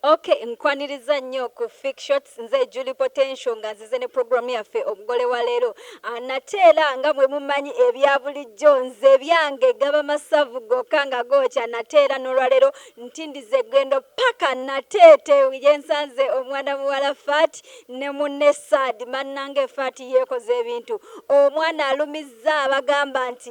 Ok nkwaniriza nnyo ku fik shots nze Julie Potential nga nzize ne program yaffe omugole wa leero ah, nate era nga mwe mumanyi ebya bulijjo nze ebyange gaba masavu gokka nga gookya nate era n'olwaleero ntindiza eggendo paka nateete yensanze omwana muwala faati ne munne saadi mannange faati yeekoze ebintu omwana alumizza abagamba nti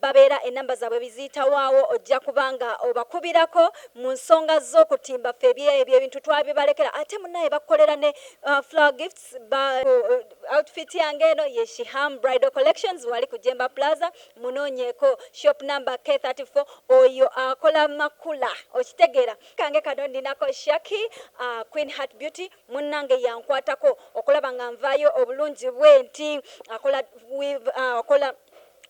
babeera enamba zaabwe biziyitawaawo ojja kuba nga obakubirako mu nsonga z'okutimba ffe ebye- ebyo ebintu twabibalekera ate munaye bakukolera ne uh, flower gifts ba, uh, outfit yange eno ye shiham bridal collections wali ku jemba plaza munoonyeeko shop number k34 oyo akola makula okitegeera kange kano ninako shaki uh, queen heart beauty munnange yankwatako okulaba nga nvaayo obulungi bwenti akola, weave, uh, akola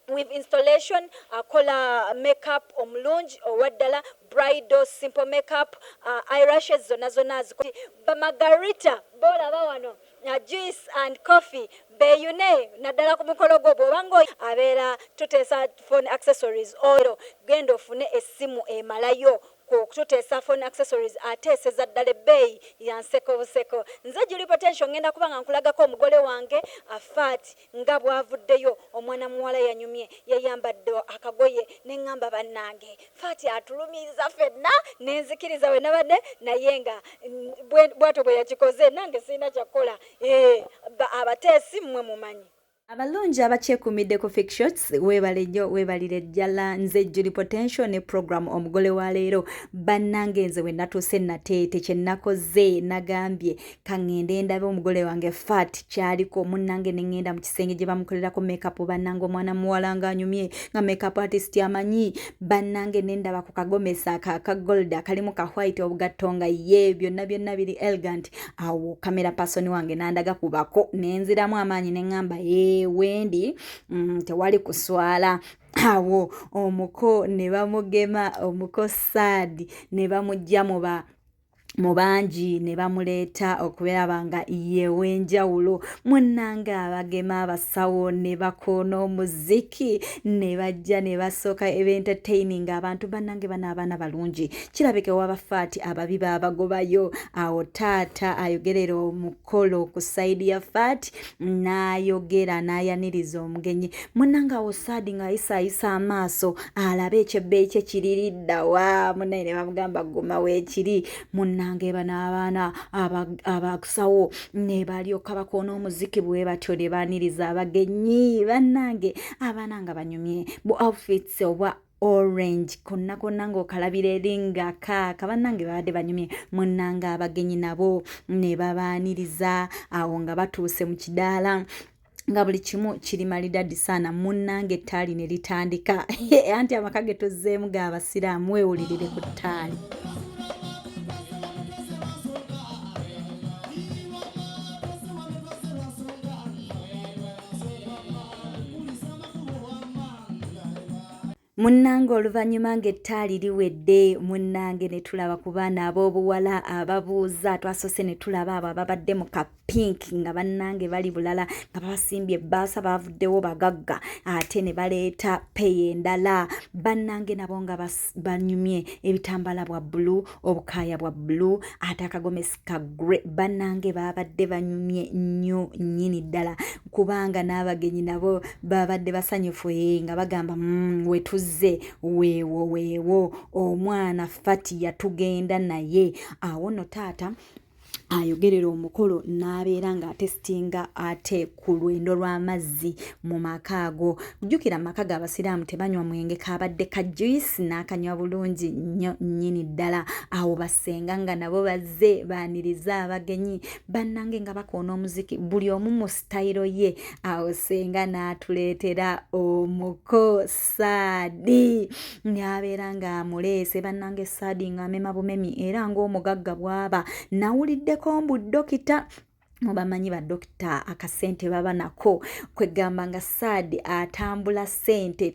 with installation akola makeup omulungi owaddala bridal simple makeup uh, irashes zonna zonna azikola bamagarita bolaba wano uh, juice and coffee beyune naddala ku mukolo gwo bwobanga abeera tuteesa phone accessories oyo genda ofune essimu emalayo kututeesa phone accessories ateeseza ddala ebbeeyi yanseko buseko nze juli potential ngenda kuba nga nkulagako omugole wange afaati Nga bw'avuddeyo, omwana muwala yanyumye, yayambadde akagoye ne ngamba bannange Faati atulumiriza ffenna ne nzikiriza we nabadde naye nga bw'atyo bwe yakikoze nange sirina kya kukola eeh abateesi mmwe mumanyi. Abalungi abakyekuumidde ku Fixshots weebale nnyo weebalire ddala nze Julie Potential ne program omugole wa leero bannange nze we natuuse nateete kye nakoze nagambye kangende ndabe omugole wange fat kyaliko munange nengenda mu kisenge gye bamukolerako makeup banange omwana muwala nga anyumye nga makeup artist amanyi banange nendaba ku kagomesa ka ka gold akalimu ka white obugatto nga ye byonna byonna biri elegant awo kamera person wange nandaga kubako nenziramu amaanyi nengamba ee wendi mm, tewali kuswala awo omuko ne bamugema omuko saadi ne bamujja mu ba mu bangi ne bamuleeta okulaba nga yeew'enjawulo munnange abagema abasawo ne bakoona omuziki ne bajja ne basooka ebentertaining abantu bannange bano abaana balungi kirabika ewabafaati ababi baabagobayo awo taata ayogerera omuko kolo ku saidi ya fati n'ayogera n'ayaniriza omugenyi munanga awo saadi ng'ayisaayisa amaaso alabe ekyebbeeyi kye kiriridda wa munaye ne bamugamba guma weekiri munanga eba n'abaana abakusawo ne balyoka bakoona omuziki bwe batyo ne baaniriza abagenyi bannange abaana nga banyumye bu outfits obwa orange konna konna ng'okalabira eri nga kaaka bannange babadde banyumye munnanga abagenyi nabo ne babaaniriza awo nga batuuse mu kidaala nga buli kimu kiri malidadi saana munnange ettaali ne litandika anti amaka ge tozzeemu ga basiraamu weewulirire ku ttaali munnange oluvannyuma ng'ettaali liwedde munnange ne tulaba ku baana ab'obuwala ababuuza twasoose ne tulaba abo ababadde mu ka pink nga bannange bali bulala nga babasimbye ebbaasa baavuddewo bagagga ate ne baleeta peyi endala bannange nabo nga banyumye ebitambala bwa bbulu obukaaya bwa bbulu ate akagomesi kagre banange babadde banyumye nnyo nnyini ddala kubanga n'abagenyi nabo babadde basanyufu ee eh, nga bagamba mm, wetuzze weewo weewo omwana fati yatugenda naye awo no taata ayogerera omukolo n'abeera ng'atesitinga ate ku lwendo lw'amazzi mu maka ago jjukira amaka ga abasiraamu tebanywa mwenge kabadde ka juice n'akanywa bulungi nnyo nnyini ddala awo basenga nga nabo bazze baaniriza abagenyi bannange nga bakoona omuziki buli omu mu sitayiro ye awo senga n'atuleetera omuko saadi n'abeera ng'amuleese bannange saadi ng'amema bumemi era ng'omugagga bw'aba nawuliddeko mbu dokita mubamanyi badokita akasente baba nako kwegamba nga saadi atambula sente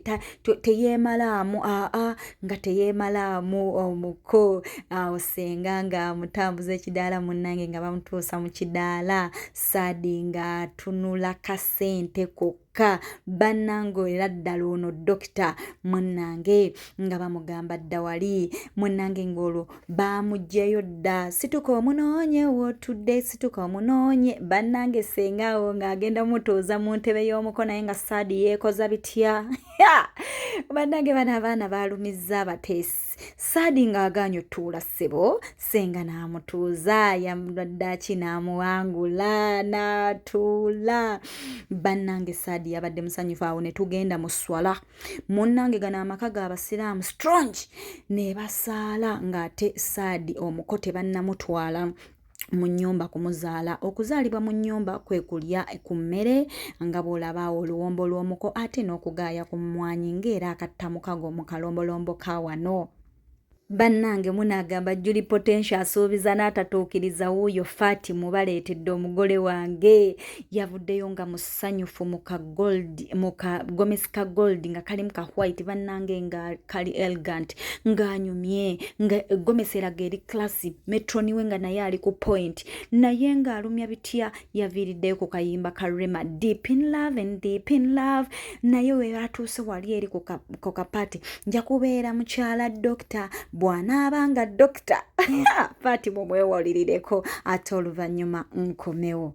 teyemalaamu aa nga teyemalaamu omuko awo senga nga amutambuza ekidaala munange nga bamutuusa mu kidaala saadi nga atunula kasente kokka kyokka bannange era ddala ono dokita munnange nga bamugamba dda wali munnange ng'olwo baamuggyeyo dda situka omunoonye wotudde situka omunoonye bannange sengaawo ng'agenda mutooza mu ntebe y'omuko naye nga saadi yeekoza bitya bannange bano abaana baalumizza abateesi Saadi ng'agaanyi otuula ssebo senga n'amutuuza yamuddaaki n'amuwangula n'atuula bannange saadi yabadde musanyufu awo ne tugenda mu swala munnange gano amaka ga basiraamu strong ne basaala ng'ate saadi omuko tebannamutwala mu nnyumba kumuzaala okuzaalibwa mu nnyumba kwe kulya ku mmere nga bw'olaba oluwombo lw'omuko ate n'okugaaya ku mmwanyi ng'era akattamukago mu kalombolombo ka wano bannange munaagamba juli potential asuubiza n'atatuukiriza wuuyo fati mubaleetedde omugole wange yavuddeyo nga mus sanyufu mu ka gold mu ka gomesi ka gold nga kalimu ka white bannange nga kali elegant ng'anyumye nga gomesi eraga eri classy metroni we nga naye ali ku point naye ng'alumya bitya yaviiriddeyo ku kayimba ka rema deep in love and deep in love naye we atuuse wali eri ku kapati nja kubeera mukyala dokita bw'anaaba nga dokita paati mumwewalirireko ate oluvannyuma nkomewo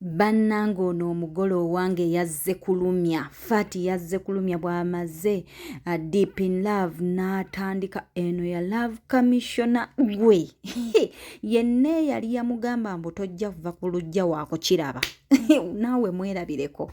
bannange ono omugole owange yazze kulumya fati yazze kulumya bw'amaze uh, deep in love n'atandika eno ya love commissiona gwe yenna eyali yamugamba mbu tojja kuva ku lujja waakukiraba naawe mwerabireko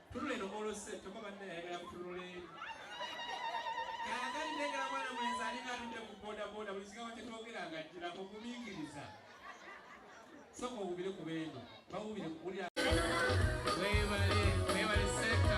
Tunula eno mwolose kyokka banne yayagala kutunula eri kaagani negala mwana mwenzi alinga atudde ku bodaboda buli kigambo kye twogera nga jjirako kumingiriza soka owubire ku beeno bawubire kuwulira webale webale seka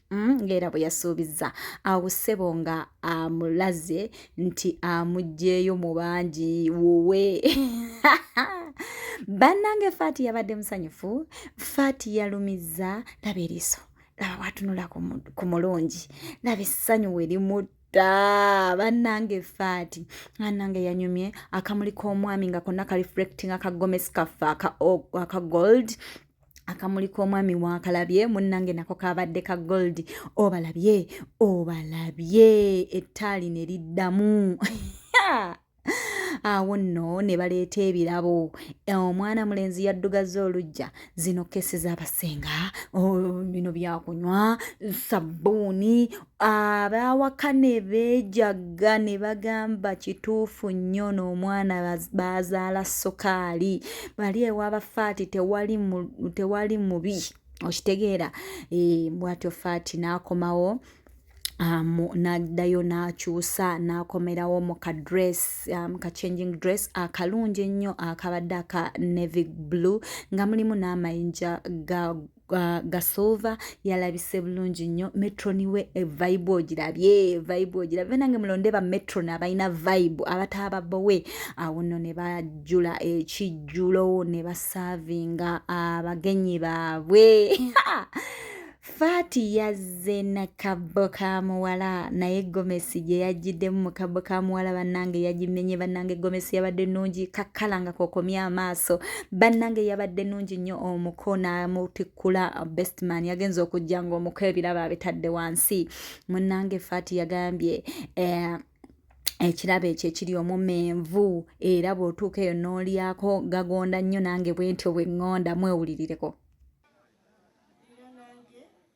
Mm, ng'era bwe yasuubizza awo ssebo nga amulaze nti amuggyeyo mu bangi wuwe bannange faati yabadde musanyufu faati yalumizza laba eriiso laba watunula ku mulungi laba essanyu we limutta da bannange faati bannange yanyumye akamuli k'omwami nga konna ka reflecting aka gomesi kaffe aka gold akamuli k'omwami wakalabye munnange nako kabadde ka gold obalabye obalabye ettaali ne liddamu awo nno ne baleeta ebirabo eh, omwana mulenzi yaddugazza olujja zino kesi z'abasenga oh, bino byakunywa sabbuuni abaawaka ne beejagga ne bagamba kituufu nnyo n'omwana baazaala sukaali bali ewa bafaati tewali mubi okitegeera eh, bwatyo faati n'akomawo um, naddayo n'akyusa n'akomerawo mu ka dress um, ka changing dress akalungi ennyo akabadde aka navy blue nga mulimu n'amayinja ga uh, gasova yalabise bulungi nnyo metroni we eh, vibe ogirabye vibe ogirabye nange mulonde ba metron abalina vibe abataaba bowe awo nno ne bajjula ekijjulo ne basaavinga abagenyi baabwe faati yaz nze nakabbo ka muwala naye gomesi gye yajjiddemu mu kabbo ka muwala bannange yagimenye bannange gomesi yabadde nnungi kakkala nga kokomye amaaso bannange yabadde nnungi nnyo omuko n'amutikkula bestman yagenza okujja ng'omuko ebirabo abitadde wansi munnange faati yagambye eh, ekirabo ekyo ekiri omumenvu era bw'otuuka eyo n'olyako gagonda nnyo nange bwentyo bwe ŋŋonda mwewulirireko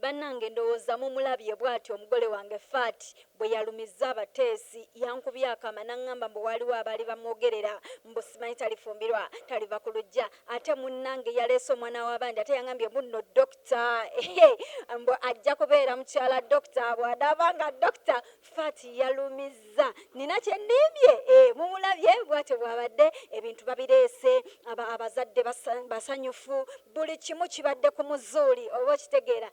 Bannange ndowooza mumulabye bwatyo omugole wange Fat bwe yalumizza abateesi. Yankubye akaama n'angamba mbu waaliwo abaali bamwogerera mbu simanyi talifumbirwa, taliva ku luggya ate munnange yaleese omwana w'abandi ate yangambye mbu nno Dokita ehe mbu ajja kubeera mukyala Dokita bw'anaaba nga Dokita Fat yalumizza nina kyendimbye e, eh, mumulabye bwatyo bwabadde ebintu babireese aba abazadde basanyufu buli kimu kibadde ku muzuuli oba okitegeera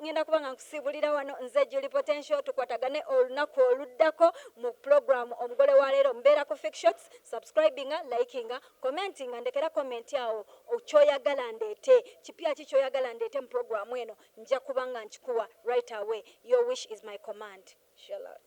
ngenda kuba nga nkusiibulira wano nze juli potential tukwatagane olunaku oluddako mu program omugole wa leero mbeera ku fictions subscribinga likinga commentinga ndekera comment awo kyoyagala ndeete kipya ki kyoyagala ndeete mu program eno njakuba nga nkikuwa right away your wish is my command. Shalot.